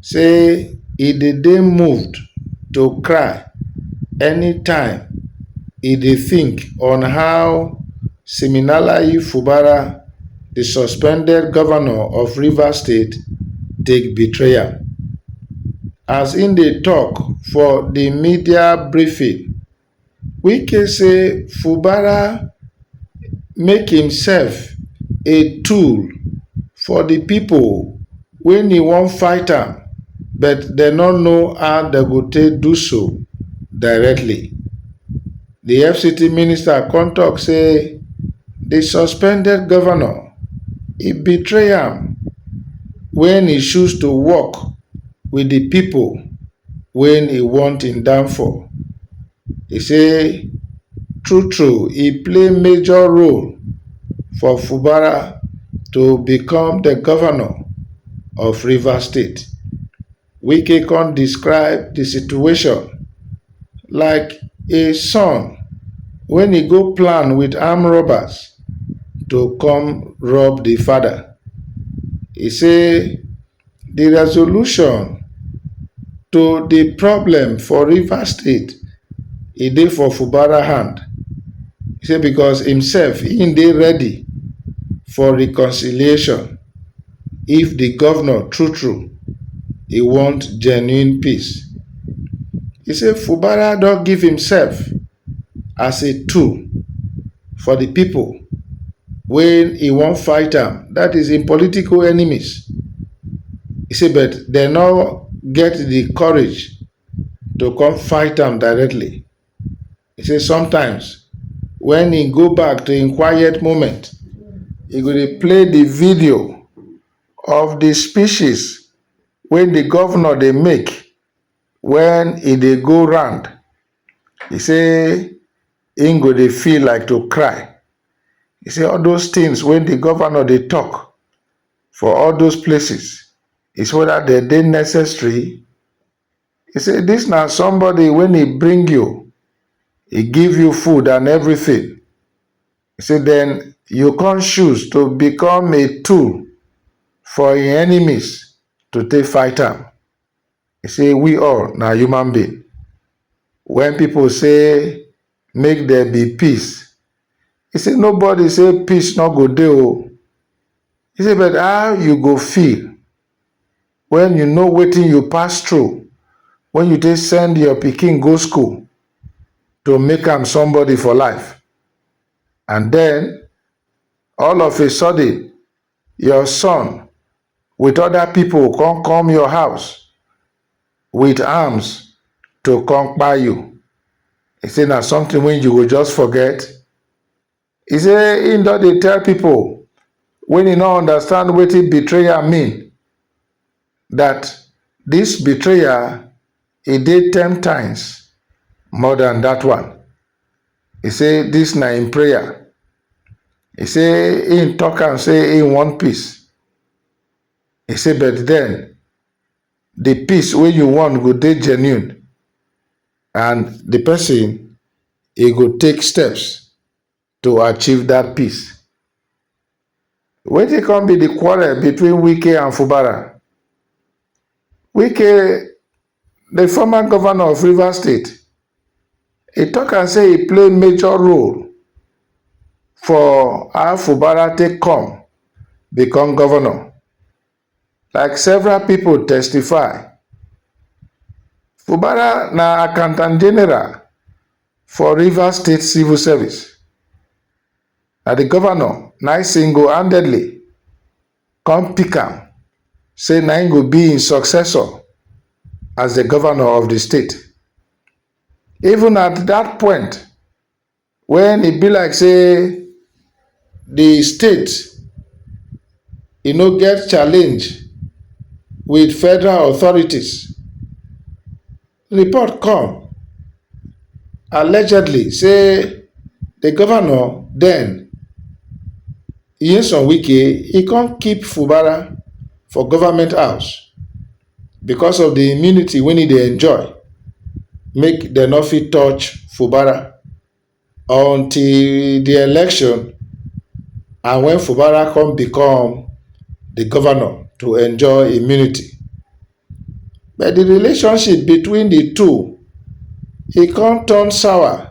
say e dey dey moved to cry anytime e dey think on how Siminalayi Fubara, di suspended govnor of Rivers State take betray am. As im dey tok for di media briefing, Wike say Fubara make imself a tool for di pipo wey ni wan fight am but dem no know how dem go take do so directly. Di fct minister kon tok say di suspended govnor e betray am wen e choose to work wit di pipo wen e want im downfall, e say true true e play major role for Fubara to become the governor of Rivers state. Wike come describe the situation like a son wen e go plan with armed robbers to come rob the father. E say di resolution to di problem for Rivers state e dey for Fubara hand sey because im self im dey ready for reconciliation if di governor true true e want genuine peace. E sey Fubara don give im self as a tool for di pipo wey e wan fight am, dat is im political enemies. E say but dem no get di courage to come fight am directly. E say sometimes wen e go back to im quiet moment, e go dey play di video of di speeches wey di govnor dey make wen e dey go round. E say im go dey feel like to cry. E say all those things wey di governor dey talk for all those places is whether dem dey necessary. E say dis na somebody wey e bring you, e give you food and everything, e say den you come choose to become a tool for im enemies to take fight am. e sey we all na human being wen pipu sey make there be peace e sey no body sey peace no go dey oh e sey but how you go feel wen you know wetin you pass through wen you take send your pikin go school to make am somebody for life and den all of a sudden your son with other people come come your house with arms to come kpai you. He say na something wey you go just forget. He say he don dey tell people when he no understand wetin betrayal mean. dat dis betrayal e dey ten times more dan dat one, e say dis na im prayer, e say im tok am say im want peace, e say but den di peace wey you want go dey genuine and di pesin e go take steps. to achieve dat peace. Wetin come be di quarrel between Wike and Fubara? Wike, di former governor of Rivers State, e tok am say e play major role for how Fubara take come become governor. Like several pipo testify, Fubara na Accountant General for Rivers State Civil Service, na di govnor na im single-handedly come pick am say na im go be im successor as di govnor of di state. Even at dat point, Wen e be like say di state e no get challenge wit federal authorities, report come allegedly say di govnor den, Nyesom Wike e kon keep Fubara for government house. because of di immunity wey e dey enjoy make dem no fit touch Fubara until di election and wen Fubara come become di governor to enjoy immunity but di relationship between di two e come turn sour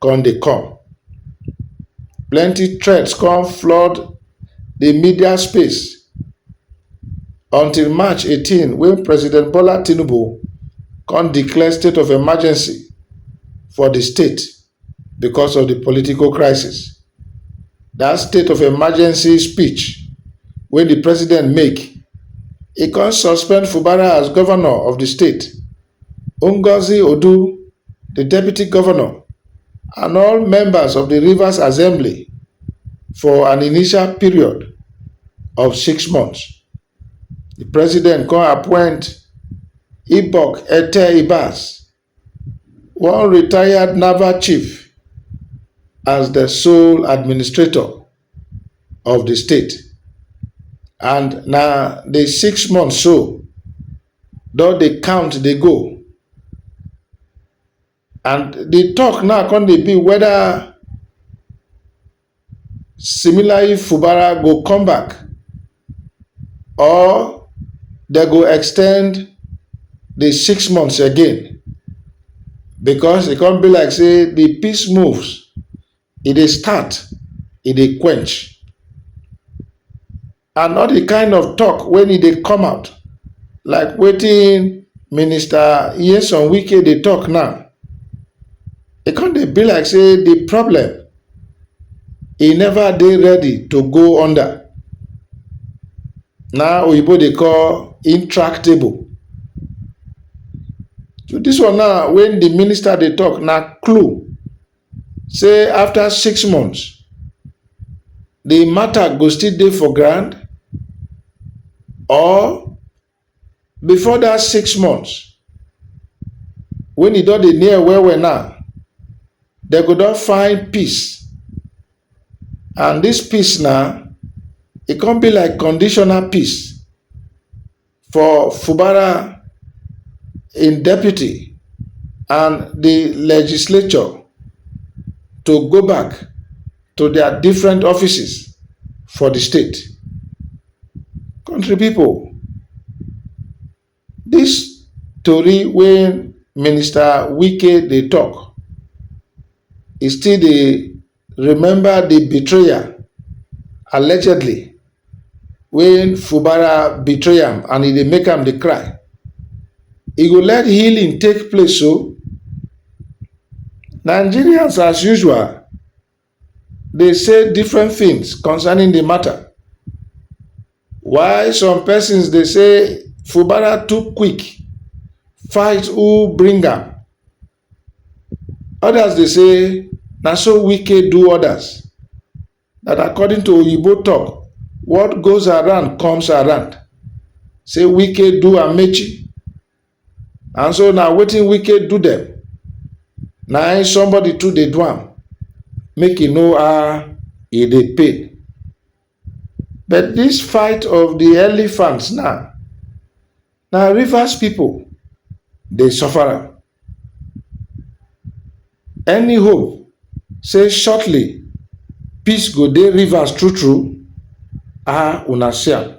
come dey come, plenty threat come flood di media space until March eighteen wey President Bola Tinubu come declare state of emergency for di state because of di political crisis. Dat state of emergency speech wey di president make, e come suspend Fubara as governor of di state. Ngozi Odu, di deputy govnor and all members of di Rivers Assembly for an initial period of six months, di president kon appoint Ibok Ete Ibas, one retired naval chief as di sole administrator of di state and na di six months so. don dey count dey go and the talk now come dey be whether Similayi Fubara go come back or they go extend the six months again because e come be like say the peace moves e dey start e dey quench and not di kind of tok wen e dey come out like wetin Minister Nyesom Wike dey tok now. E come dey be like say di problem e never dey ready to go under. Na oyibo dey call intractable. So dis one now wen di minister dey tok na clue say afta six months di mata go still dey for ground or bifor dat six months wen e don dey near well well now dem go don find peace and dis peace na e come be like conditional peace. for Fubara im deputy and di legislature to go back to dia different offices for di state. Country pipo, dis tori wey Minister Wike dey tok, e still dey Remember di betrayal, allegedly, wey Fubara betray am and e dey make am dey cry. E go let healing take place o. Nigerians as usual dey say different things concerning di matter. While some persons dey say Fubara too quick fight who bring am Others dey say na so Wike do others, that according to Oyibo talk, what goes around comes around, say Wike do Amaechi and so na wetin Wike do them na im somebody too dey do am, make e know how e dey pay. But dis fight of di elephants now, na Rivers pipo dey suffer am. Any hope say shortly peace go dey Rivers true true? Ahh una see am.